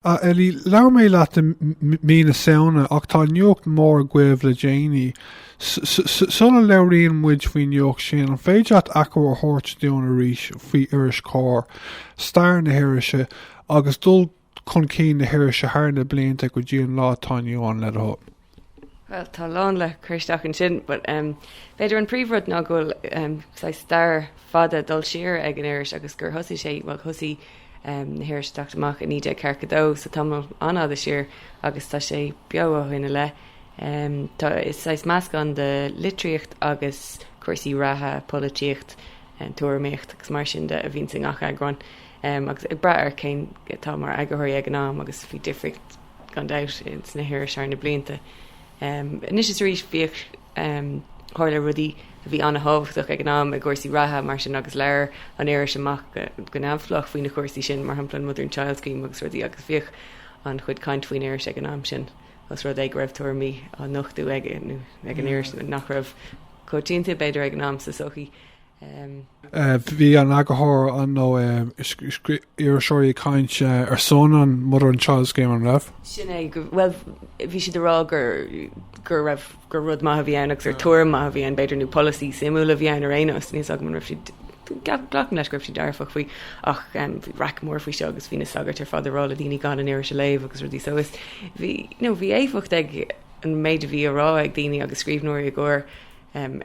A Ellie, labhair mé leat i mí na Samhna ach tá nuacht mór agaibh le déanaí. Sula labhraíonn muid faoin nuacht sin, an féidir leat achoimre a thabhairt dúinn arís faoi iris Comhar, stair na hirise agus dul chun cinn na hirise thar na blianta go dtí an lá atá inniu ann, le do thoil? Bhuel tá a lán le cur isteach ansin but em b'fhéidir an príomh rud ná go bhfuil em saghas stair fada dul siar ag an iris agus gur thosaigh sé bhuel thosaigh em na hirisí ag teacht amach i 1942 so tamall an-fhada siar agus tá sé beo ó shin i leith. Em tá is saghas meascán de litríocht agus cúrsaí reatha, polaitíocht, em tuairimíocht agus mar sin de a bhíonns i ngach eagrán em agus ag brath ar cén atá mar eagarthóir ag an am agus bhí difríocht gan dabht, sna hirisí thar na blianta anois is arís. Bhíodh tharla rudaí a bhí an-tábhachtach ag an am i gcúrsaí reatha, mar sin, agus labhair an iris amach go neamhspleách faoi na cúrsaí sin, mar shampla an Mother and Child Scheme agus rudaí, agus bhíodh an-chuid caint faoin iris ag an am sin os rud é go raibh tuairimí á nochtadh ag an iris nach raibh coitianta, b'fhéidir, ag an am sa sochaí. Bhí an eagarthóir an nó iriseoirí ag caint ar son an Mother and Child Scheme an raibh? Sin é, bhuel bhí siad ag rá go raibh, gur rud maith a bhí ann agus gur tuairim maith a bhí ann b'fhéidir nó polasaí suimiúil a bhí ann ar aon nós, níl 's agam an raibh siad, glacaim leis go raibh siad dearfach faoi ach bhí raic mór faoi seo agus bhí na sagairt ar fad ag rá le daoine gan an iris a léamh agus rudaí so is bhí, you know, bhí éifeacht ag an méid a bhí á rá ag daoine agus scríbhneoirí i gComhar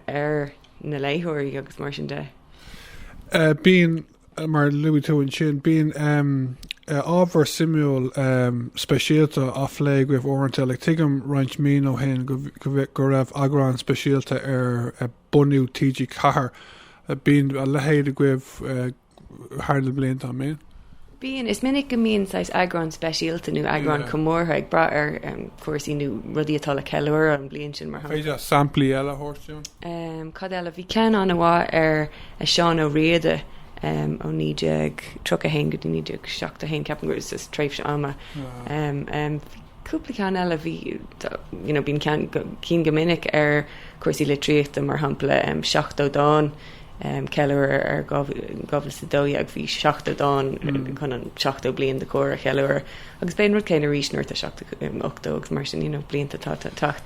ar na léitheoirí agus mar sin de. Bíonn, mar luaigh tú ansin, bíonn ábhar suimiúil speisialta á phlé agaibh uaireanta. Like, tuigim roinnt míonna ó shin go raibh eagrán speisialta ar bunú TG4. Bíonn a leithéid agaibh thar na blianta am féin. Bíonn, is minic go mbíonn saghas eagráin speisialta nó eagráin chomórtha ag brath ar chúrsaí nó rudaí atá le ceiliúradh an bhliain sin, mar shampla. Féidir samplaí eile a thabhairt dúinn? Cad eile? Bhí ceann an-mhaith ar Seán Ó Riada ó 1931 go dtí 1971, ceapaim gur shin é an tréimhse ama. Cúpla ceann eile bhí, you know, bíonn ceann, cinn go minic ar chúrsaí litríochta, mar shampla, seachtó dán, ceiliúradh ar dhá mhíle dhá mhíle is a dó dhéag, bhí seachtó dán chun an seachtó bliain de Comhar a cheiliúradh, agus b'é an rud céanna arís nuair atá seachtó, ochtó agus mar sin, you know, blianta atá ag teacht.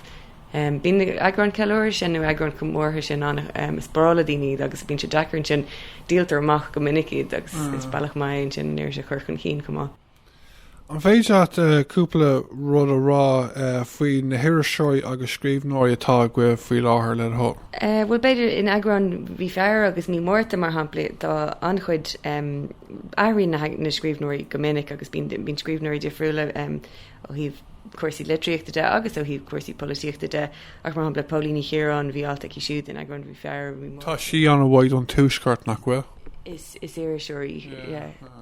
Bíonn na eagráin ceiliúradh sin nó eagráin chomórtha sin ann, is breá le daoine iad agus bíonn sé deas ansin, díoltar amach go minic iad agus is bealach maith é ansin an iris a chur chun cinn chomh maith. An féidir leat cúpla rud a rá faoi na hiriseoirí agus scríbhneoirí atá agaibh faoi láthair le do thoil? Bhuel, b'fhéidir in eagrán Mhí Feabhra agus Mí Márta, mar shampla, tá an-chuid, athraíonn na scríbhneoirí go minic agus bíonn scríbhneoirí difriúla ó thaobh cúrsaí litríochta de agus ó thaobh cúrsaí polaitíochta de, ach mar shampla Póilín Ní Chiaráin, bhí alt aici siúd in eagrán Mhí Feabhra, Mí Márta. Tá sí an-mhaith don Tuaisceart, nach bhfuil? Is iriseoir í.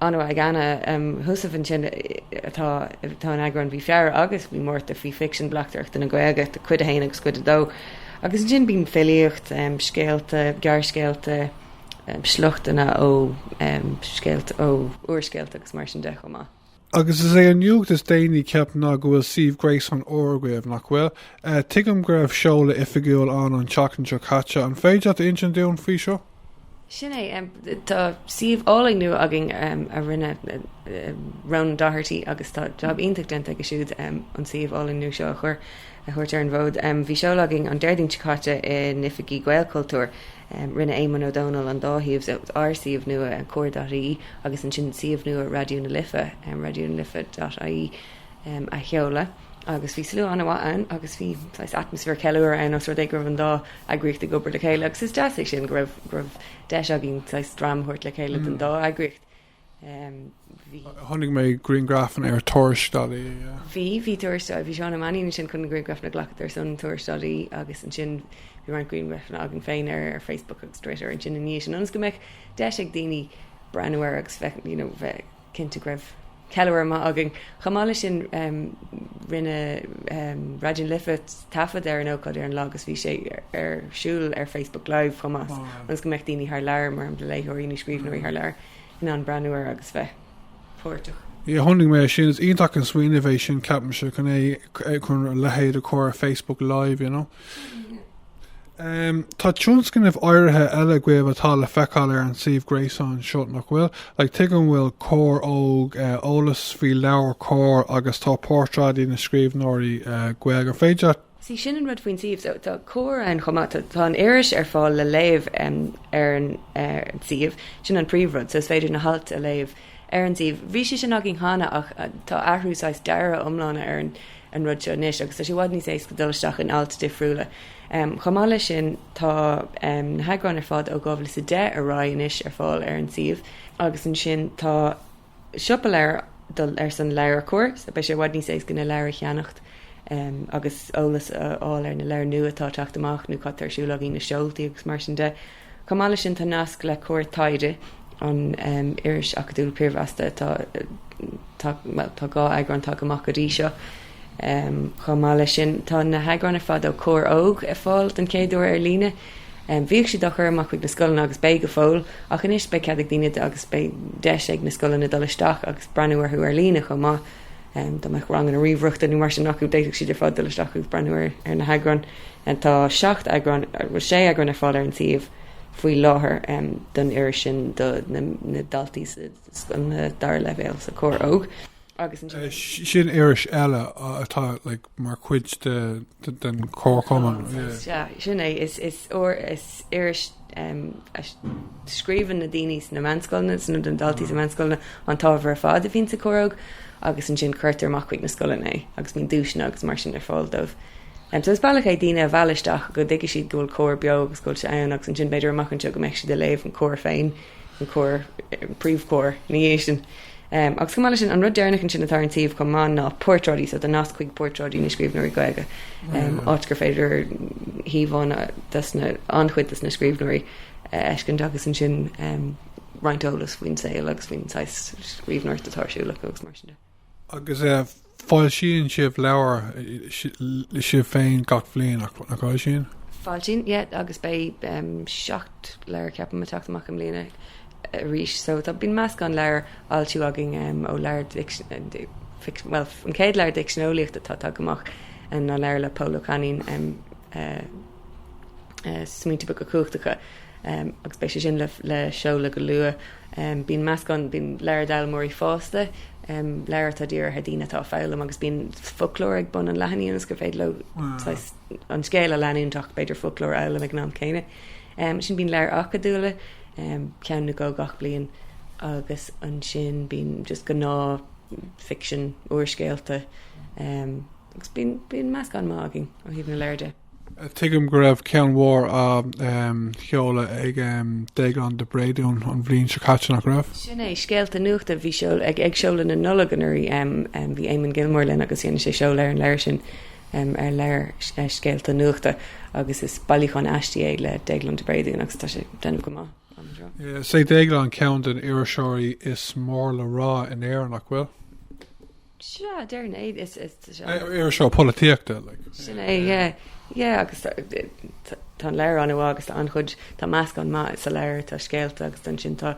ann. Alt ag Anna Heussaff ansin atá in eagrán Mhí Feabhra agus Mhí Márta faoi ficsean bleachtaireachta na Gaeilge, Cuid 1 agus Cuid 2, agus ansin bíonn filíocht, scéalta, gearrscéalta, sliochtanna ó scéalta, ó úrscéalta agus mar sin de chomh maith. Agus is é an nuacht is déanaí ceapaim ná go bhfuil suíomh gréasáin úr agaibh, nach bhfuil? Tuigim go raibh seoladh oifigiúil ann an tseachtain seo caite, an féidir leat a insint dúinn faoi seo? Sin é. Tá suíomh álainn nua againn a rinne Ronan Doherty agus tá job iontach déanta aige siúd an suíomh álainn nua seo a chur a thabhairt ar an bhfód. Bhí seoladh againn an Déardaoin seo caite in oifigí Ghaelchultúir. Rinne Éamonn Ó Dónaill an dá shuíomh so ár suíomh nua Comhar.ie agus ansin suíomh nua Raidió na Life, raidionalife.ie, a sheoladh. agus bhí slua an-mhaith ann agus bhí saghas atmaisféar ceiliúrtha ann os rud é go raibh an dá eagraíocht ag obair le chéile agus is deas é sin go raibh go raibh deis againn saghas dream a thabhairt le chéile don dá eagraíocht. Bhí. Chonaic mé grianghrafanna ar Tuairisc.ie, yeah. Bhí, bhí Tuairisc.ie, bhí Seán Ó Mainnín ansin chun na grianghrafanna a ghlacadh ar son Tuairisc.ie agus ansin bhí roinnt grianghrafanna againn féin ar ar Facebook agus Twitter ansin i ndiaidh sin ionas go mbeadh deis ag daoine breathnú air agus bheith, you know, bheith. cinnte go raibh ceiliúradh maith againn. Chomh maith leis sin rinne Raidió na Life taifead ar an ócáid ar an lá agus bhí sé ar siúl ar Facebook Live chomh maith ionas go mbeadh daoine thar lear, mar shampla léitheoirí nó scríbhneoirí thar lear, in ann breathnú air agus bheith páirteach. Yeah, chonaic mé sin, is iontach an smaoineamh é sin, ceapaimse, chun a leithéid a chur ar Facebook Live, you know. Tá tionscnaimh áirithe eile agaibh atá le feiceáil ar an suíomh gréasáin seo, nach bhfuil? Like, Tuigim go bhfuil Comhar Óg, eolas faoi Leabhar Comhar agus tá portráidí na scríbhneoirí Gaeilge. An féidir leat. Sea, sin an rud faoin suíomh. So, tá Comhar ann chomh maith. Tá an iris ar fáil le léamh ar an suíomh. Sin an príomhrud. So, is féidir na hailt a léamh ar an suíomh. Bhí sé sin againn cheana ach tá athrú saghas dearadh iomlán ar an rud seo anois agus tá sé i bhfad níos éasca dul isteach in ailt difriúla. Chomh maith leis sin tá na heagráin ar fad ó 2010 ar aghaidh anois ar fáil ar an suíomh. Agus ansin tá siopa leabhar do, ar son Leabhar Comhar, so beidh sé i bhfad níos éasca na leabhair a cheannacht agus eolas a fháil ar na leabhair nua atá ag teacht amach nó cad tá ar siúl againn, na seoltaí agus mar sin de. Chomh maith leis sin tá nasc le Comhar Taighde an iris acadúil piarmheasta. Tá, bhuel, tá dhá eagrán tagtha amach go dtí seo. Chomh maith leis sin tá na heagráin ar fad ó Comhar Óg ar fáil den chéad uair ar líne. Bhíodh siad á chur amach chuig na scoileanna agus beidh go fóill ach anois beidh cead ag daoine agus beidh deis ag na scoileanna dul isteach agus breathnú orthu ar líne chomh maith. Dá mbeadh ranganna ríomhaireachta nó mar sin acu, d'fhéadfadh siad ar fad dul isteach agus breathnú ar na heagráin. Tá seacht eagrán, bhuel sé eagrán ar fáil ar an suíomh faoi láthair don iris sin do na daltaí sa dara leibhéal sa Chomhar Óg agus ansin. Sin iris eile atá mar chuid den Chomhar chomh maith. Sea, sin é. Is iris. a scríobhann na daoine sna meánscoileanna, sna na daltaí sna meánscoileanna an t-ábhar ar fad a bhíonn sa Chomhar Óg agus ansin cuirtear amach chuig na scoileanna é agus bíonn duaiseanna agus mar sin ar fáil dóibh. So is bealach é daoine a mhealladh isteach go dtuigfidh siad go bhfuil Comhar beo agus go bhfuil sé ann agus ansin b'fhéidir amach anseo go mbeidh siad ag léamh an Chomhar féin, an Comhar, an príomhChomhar, ina dhiaidh sin. Agus chomh maith leis sin, an rud deireanach ansin atá ar an suíomh chomh maith ná Portráidí, so tá nasc chuig Portráidí na Scríbhneoirí Gaeilge, áit gur féidir íomhánna de sna, an-chuid de sna scríbhneoirí a fheiscint agus ansin roinnt eolas faoin saol agus faoin saghas scríbhneoireachta atá ar siúl acu agus mar sin de. Agus Foilsíonn sibh leabhair sibh féin gach bliain, nach bhfoilsíonn? Foilsíonn, yeah, agus beidh seacht leabhar ceapaim ag teacht amach i mbliana arís. So tá, bíonn meascán leabhar á fhoilsiú againn ó leabhair ficsean, bhuel an chéad leabhar d'fhicsean eolaíochta atá ag teacht amach ná leabhar le Pól Ó Cainín, Smaointe Beaga Cumhachtacha. agus beidh sé sin le seoladh go luath. Bíonn meascán, bíonn leabhar d'fhoghlaimeoirí fásta, leabhar atá dírithe ar dhaoine atá ag foghlaim agus bíonn foclóir ag bun an leathanaigh ionas gur féidir leo saghas an scéal a leanúint ach b'fhéidir foclóir a fhoghlaim ag an am céanna. Sin bíonn leabhar acadúla, ceann nó dhó gach bliain agus ansin bíonn just gnáthfhicsean, úrscéalta, agus bíonn meascán maith againn ó thaobh na leabhar de. Tuigim go raibh ceann mhór á sheoladh ag Déaglán de Bréadún an bhliain seo caite, nach raibh? Sin é, Scéalta Nuachta. Bhí sé ag seoladh na Nollag anuraidh. Bhí Eamon Gilmore linn agus rinne sé seoladh ar an leabhar sin ar leabhar Scéalta Nuachta agus is bailiúchán aistí é le Déaglán de Bréadún agus tá sé ag déanamh go maith. Is é Déaglán ceann den iriseoirí is mór le rá in Éirinn, nach bhfuil? Sea, dar ndóigh, is iriseoir polaitíochta. Sin é, yeah. Agus tá an leabhar an-mhaith agus an-chuid, tá meascán maith sa leabhar, tá scéalta agus ansin tá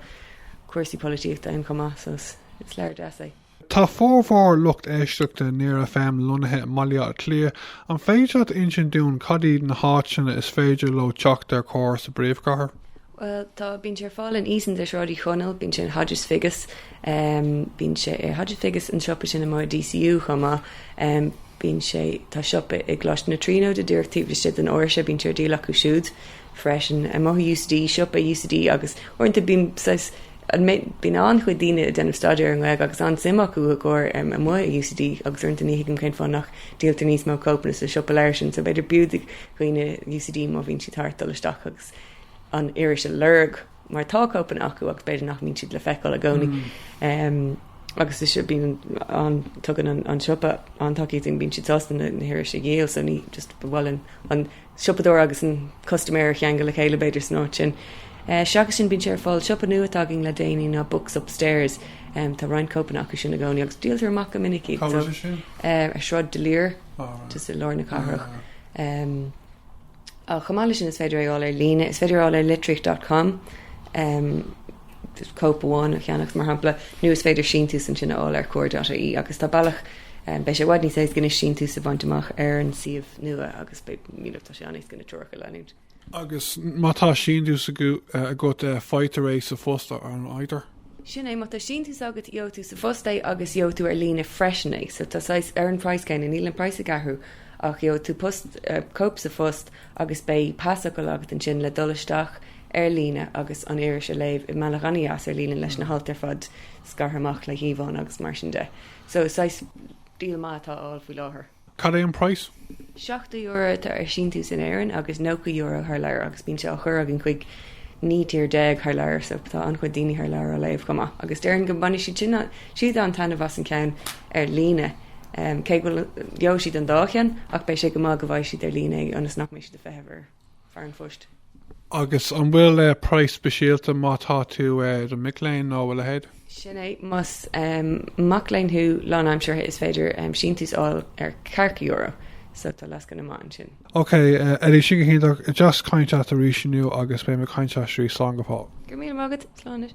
cúrsaí polaitíochta ann chomh maith so is leabhar deas é. Tá formhór lucht éisteachta Near FM lonnaithe i mBaile Átha Cliath. An féidir leat insint dúinn cad iad na háiteanna is féidir leo teacht ar Chomhar sa bpríomhchathair? Bhuel, tá, bíonn sé ar fáil in Easons ar Shráid Uí Chonaill, bíonn sé in Hodges Figgis, bíonn sé ar Hodges Figgis, an siopa sin amuigh i DCU chomh maith, bíonn sé, tá siopa i gColáiste na Tríonóide díreach taobh istigh den áirse, bíonn sé ar díol acu siúd freisin. Amuigh i UCD, siopa UCD agus uaireanta bíonn saghas, an mbeidh, bíonn an-chuid daoine ag déanamh staidéar i nGaeilge agus an-suim acu i gComhar amuigh i UCD agus uaireanta ní thuigim cén fáth nach díoltar níos mó cóipeanna sa siopa leabhar sin so b'fhéidir b'fhiú do dhaoine UCD má bhíonn siad thart dul isteach agus an iris a lorg mar tá cóipeanna acu agus b'fhéidir nach mbíonn siad le feiceáil i gcónaí. Agus is ea bíonn an, tugann an an siopa an-tacaíocht dúinn, bíonn siad sásta na hirisí a dhíol so ní just ba mhaith linn an siopadóir agus an custaiméir a cheangal le chéile b'fhéidir san áit sin. Seachas sin bíonn sé ar fáil, siopa nua atá againn le déanaí ná Books Upstairs, tá roinnt cóipeanna acu sin i gcónaí agus díoltar amach go minic iad so, ar Shráid D'Olier, just i lár na cathrach. Chomh maith leis sin is féidir é a fháil ar líne, is féidir a fháil ar litríocht dot com, cóip amháin a cheannacht mar shampla, nó is féidir síntiús ansin a fháil ar Comhar dot ie agus tá bealach, beidh sé i bhfad níos éasca anois síntiús a bhaint amach ar an suíomh nua agus beidh, míle, tá sé an-éasca na treoracha a leanúint. Agus má tá síntiús agat faightear é sa phost, an bhfaightear? Sin é, má tá síntiús agat gheobhaidh tú sa phost é agus gheobhaidh tú ar líne freisin é, so tá saghas, ar an praghas céanna, níl an praghas ag athrú Ach gheobhaidh tú post, cóip sa phost agus beidh pasfhocal agat ansin le dul isteach ar líne agus an iris a léamh i mbealach an-deas ar líne leis na hailt ar fad scartha amach le híomhánna agus mar sin de. So is saghas deal maith atá á fháil faoi láthair. Cad é an praghas? €70 atá ar síntiús in Éirinn agus €90 thar lear agus bíonn sé á chur againn chuig 19 tír thar lear so tá an-chuid daoine thar lear á léamh chomh maith agus déarfainn go mbainfidh siad an-taitneamh as an ceann ar líne. cé go bhfuil, gheobhaidh siad an dá cheann ach beidh sé go maith go bhfaighidh siad ar líne é ionas nach mbeidh siad ag feitheamh ar fear an phoist. Agus an bhfuil praghas speisialta má tá tú i do mhac léinn nó a leithéid? Sin é, más mac léinn thú lánaimseartha is féidir síntiús a fháil ar €40 so tá lascaine mhaith ansin. Ok, Eddie, sin go hiontach. Is deas caint leat arís inniu agus beidh mé ag caint leat arís. Slán go fóill. Go raibh míle maith agat. Slán leat.